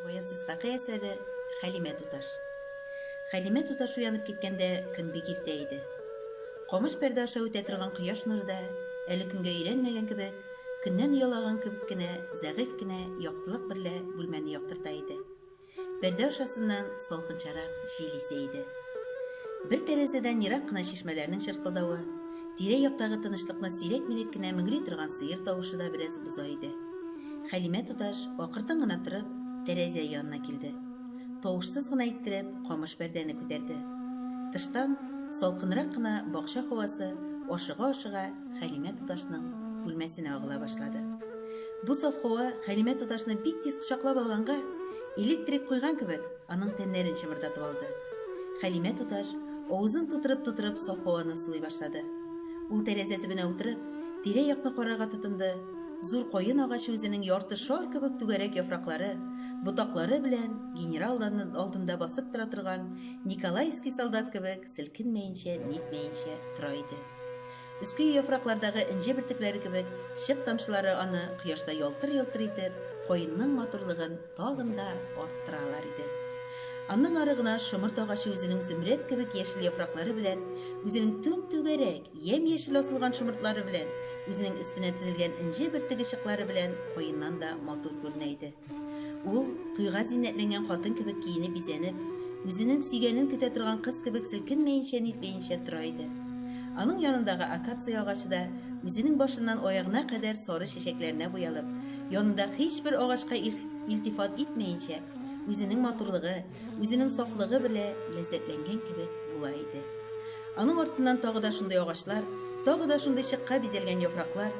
Гаяз Исхакый әсәре Хәлимә туташ Хәлимә туташ уянып киткәндә көн бик иртә иде. Камыш пәрдә аша үтә торган кояш нуры да, әле көнгә өйрәнмәгән кебек, көннән оялаган кебек кенә зәгыйфь кенә яктылык берлә бүлмәне яктырта иде. Пәрдә ашасыннан салкынчарак җил исә иде. Бер тәрәзәдән ерак кына чишмәләрнең чыркылдавы, тирә-яктагы тынычлыкны сирәк-мирәк кенә мөңри торган сыер тавышы да бераз боза иде. Хәлимә туташ, акыртын гына торып, тәрәзә янына килде. Тавышсыз гына иттереп камыш пәрдәне күтәрде. Тыштан, салкынрак кына бакча һавасы, ашыга-ашыга, Хәлимә туташның бүлмәсенә агыла башлады. Бу саф һава Хәлимә туташны бик тиз кочаклап алганга, электрик куйган кебек, аның тәннәрен чымырдатып алды. Хәлимә туташ авызын тутырып-тутырып саф һаваны сулый башлады. Ул тәрәзә төбенә утырып, тирә-якны карарга тотынды, зур каен агачы үзенең ярты шар кебек түгәрәк яфраклары, ботаклары белән генерал Данын алдында басып тора торган николаевский солдат кебек селкенмәенчә-нитмәенчә тора иде. Өске яфраклардагы энҗе бөртекләре кебек чык тамчылары аны кояшта ялтыр-йолтыр итеп, каенның матурлыгын тагын да арттыралар иде. Аннан ары гына шомырт агачы үзенең зөмрәт кебек яшел яфраклары белән, үзенең түм-түгәрәк, ямь-яшел асылган шомыртлары белән, үзенең өстенә тезелгән энҗе бөртеге чыклары белән каеннан да матур күренә иде. Ул, туйга зиннәтләнгән хатын кебек киенеп-бизәнеп, үзенең сөйгәнен көтә торган кыз кебек селкенмәенчә-нитмәенчә тора иде. Аның янындагы акация агачы да, үзенең башыннан аягына кадәр сары чәчәкләренә буялып, янында һичбер агачка илтифат итмәенчә, үзенең матурлыгы, үзенең сафлыгы белә ләззәтләнгән кебек була иде. Аның артыннан тагы да шундый агачлар, тагы да шундый чыкка бизәлгән яфраклар,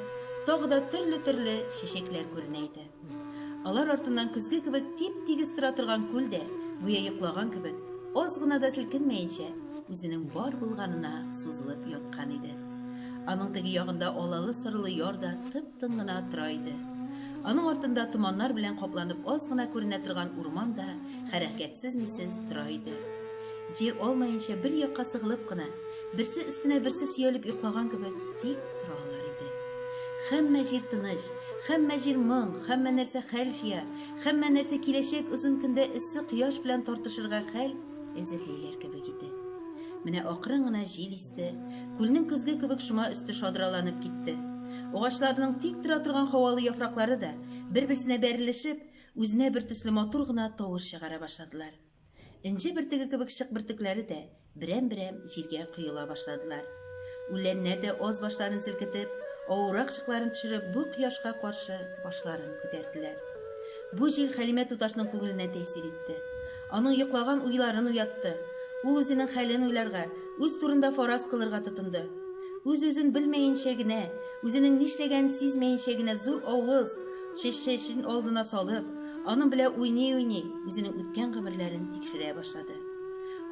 тагы да төрле-төрле чәчәкләр күренә иде. Алар артыннан көзге кебек тип-тигез тора торган күл дә, гүя йоклаган кебек, аз гына да селкенмәенчә, үзенең бар булганына сузылып яткан иде. Аның теге ягында алалы-сорылы яр да тып-тын гына тора иде. Аның артында томаннар белән капланып аз гына күренә торган урман да хәрәкәтсез-нисез тора иде. Җир алмаенча бер якка сыгылып кына, берсе өстенә берсе сөялеп йоклаган кебек тик тора алар иде. Һәммә җир тыныч, һәммә җир моң, һәммә нәрсә хәл җыя, һәммә нәрсә киләчәк озын көндә эссе кояш белән тартышырга хәл әзерлиләр кебек иде. Менә акрын гына җил исте, күлнең көзге кебек шома өсте шадраланып китте. Агачларның тик тора торган һавалы яфраклары да, бер-берсенә бәрелешеп, үзенә бертөсле матур гына тавыш чыгара башладылар. Энҗе бөртеге кебек чык бөртекләре дә берәм-берәм җиргә коела башладылар. Үләннәр дә аз башларын селкетеп, авыррак чыкларын төшереп бу кояшка каршы башларын күтәрделәр. Бу җил Хәлимә туташның күңеленә тәэсир итте. Аның йоклаган уйларын уятты. Ул үзенең хәлен уйларга, үз турында фараз кылырга тотынды. Үз-үзен белмәенчә генә, үзенең нишләгәнен сизмәенчә генә зур авыз, Чәччәчен алдына салып, аның белә уйный-уйный, үзенең үткән гомерләрен тикшерә башлады.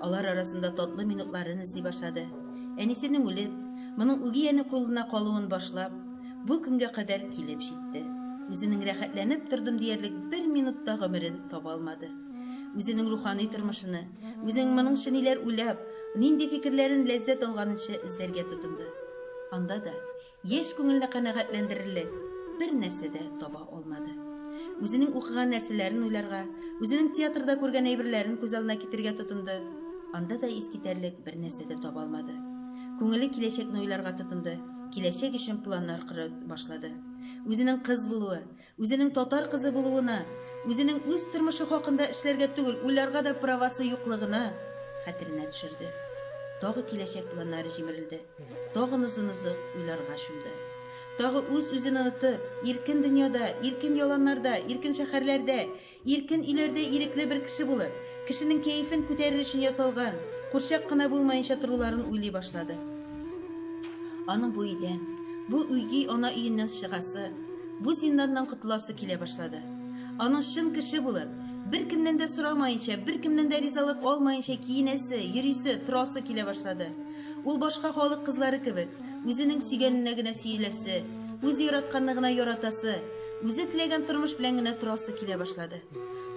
Алар арасында татлы минутларын эзли башлады. Әнисенең үлеп, моның үги әни кулына калуын башлап, бу көнгә кадәр килеп җитте. Үзенең рәхәтләнеп тордым диярлек бер минут та гомерен таба алмады. Үзенең рухани тормышыны, үзенең моныңчы ниләр уйлап, нинди фикерләрен ләззәт алганынча эзләргә тотынды. Анда да, Яшь күңелне канәгатьләндерерлек бер нәрсә дә таба алмады. Үзенең укыган нәрсәләрен уйларга, үзенең театрда күргән әйберләрен күз алдына китерергә тотынды, анда да искитәрлек бер нәрсә дә таба алмады. Күңеле киләчәкне уйларга тотынды, киләчәк өчен планнар корып башлады. Үзенең кыз булуы, Үзенең татар кызы булуына, үзенең үз тормышы хакында эшләргә түгел, уйларга да правасы юклыгына хәтеренә төшерде. Тагы киләчәк планнары җимерелде. Тагын озын-озак уйларга чумды. Тагы үз-үзен онытып, иркен дөньяда, иркен яланнарда, иркен шәһәрләрдә, Иркен өйләрдә ирекле бер кеше булып, кешенең кәефен күтәрер өчен ясалган, курчак кына булмаенча торуларын уйлый башлады. Аның бу өйдән, бу өйди ана өеннән чыгасы, бу зинданнан котыласы килә башлады. Аның чын кеше булып, беркемнән дә сорамаенча, беркемнән дә ризалык алмаенча киенәсе, йөрисе, торасы килә башлады. Ул башка халык кызлары кебек, үзенең сөйгәненә генә сөеләсе, үзе яратканны гына яратасы, Үзе теләгән тормыш белән генә торасы килә башлады.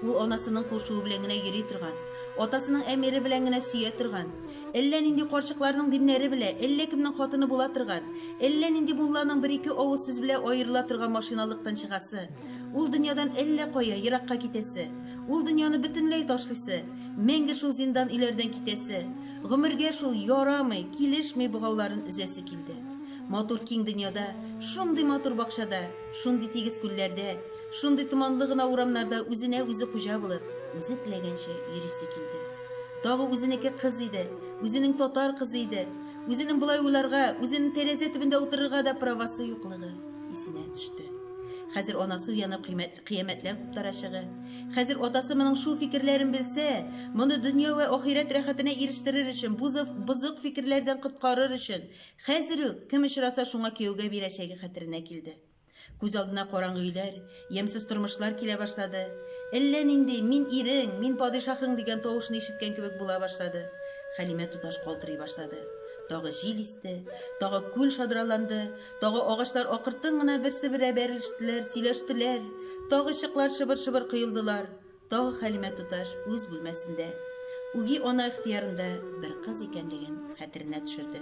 Ул анасының кушуы белән генә йөри торган, атасының әмере белән генә сөя торган, әллә нинди карчыкларның диннәре белә, әллә кемнең хатыны була торган, әллә нинди мулланың бер-ике авыз сүз белә аерыла торган машиналыктан чыгасы, ул дөньядан әллә кая, еракка китәсе, ул дөньяны бөтенләй ташлыйсы, мәңге шул зиндан-өйләрдән китәсе, гомергә шул, ярамый, килешми богауларын өзәсе килде. Матур киң дөньяда, шундый матур бакчада, шундый тигез күлләрдә, шундый томанлы гына урамнарда үзенә үзе хуҗа булып, үзе теләгәнчә йөрисе килде. Тагы үзенеке кыз иде, үзенең татар кызы иде. Үзенең болай уйларга, үзенең тәрәзә төбендә утырырга да правасы юклыгы исенә төште. Хәзер анасы уянып кыймәт, кыямәтләр куптарачыгы. Хәзер атасы моның шул фикерләрен белсә, моны дөнья вә ахирәт рәхәтенә ирештерер өчен, бу зыф, бозык фикерләрдән коткарыр өчен, Хәзер үк, кем очраса, шуңа кияүгә бирәчәге хәтеренә килде. Күз алдына караңгы өйләр, ямьсез тормышлар килә башлады. Әллә нинди, мин ирең, мин падишаһың дигән тавышны ишеткән кебек була башлады. Хәлимә туташ калтырый башлады. Тагы җил исте, тагы күл шадраланды, тагы агачлар акыртын гына берсе-берә бәрелештеләр, сөйләштеләр, тагы чыклар шыбыр-шыбыр коелдылар. Тагы Хәлимә туташ үз бүлмәсендә, үги ана ихтыярында бер кыз икәнлеген хәтеренә төшерде.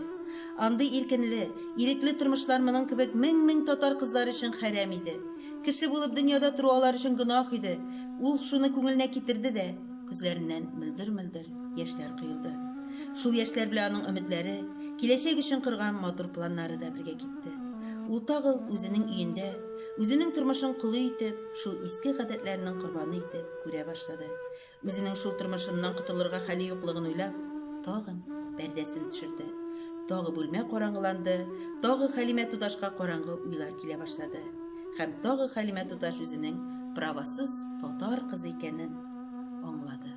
Андый иркенле, ирекле тормышлар моның кебек мең-мең татар кызлары өчен хәрәм иде. Кеше булып дөньяда тору алар өчен гөнаһ иде. Ул шуны күңеленә китерде дә, күзләреннән мөлдер-мөлдер яшьләр коелды. Шул яшьләр белән аның өметләре, киләчәк өчен корган матур планнары да бергә китте. Ул тагы үзенең өендә, үзенең тормышын колы итеп, шул иске гадәтләренең корбаны итеп күрә башлады. Үзенең шул тормышыннан котылырга хәле юклыгын уйлап, тагын пәрдәсен төшерде. Тагы бүлмә караңгыланды, тагы Хәлимә туташка караңгы уйлар килә башлады. Һәм тагы Хәлимә туташ үзенең правасыз татар кызы икәнен аңлады.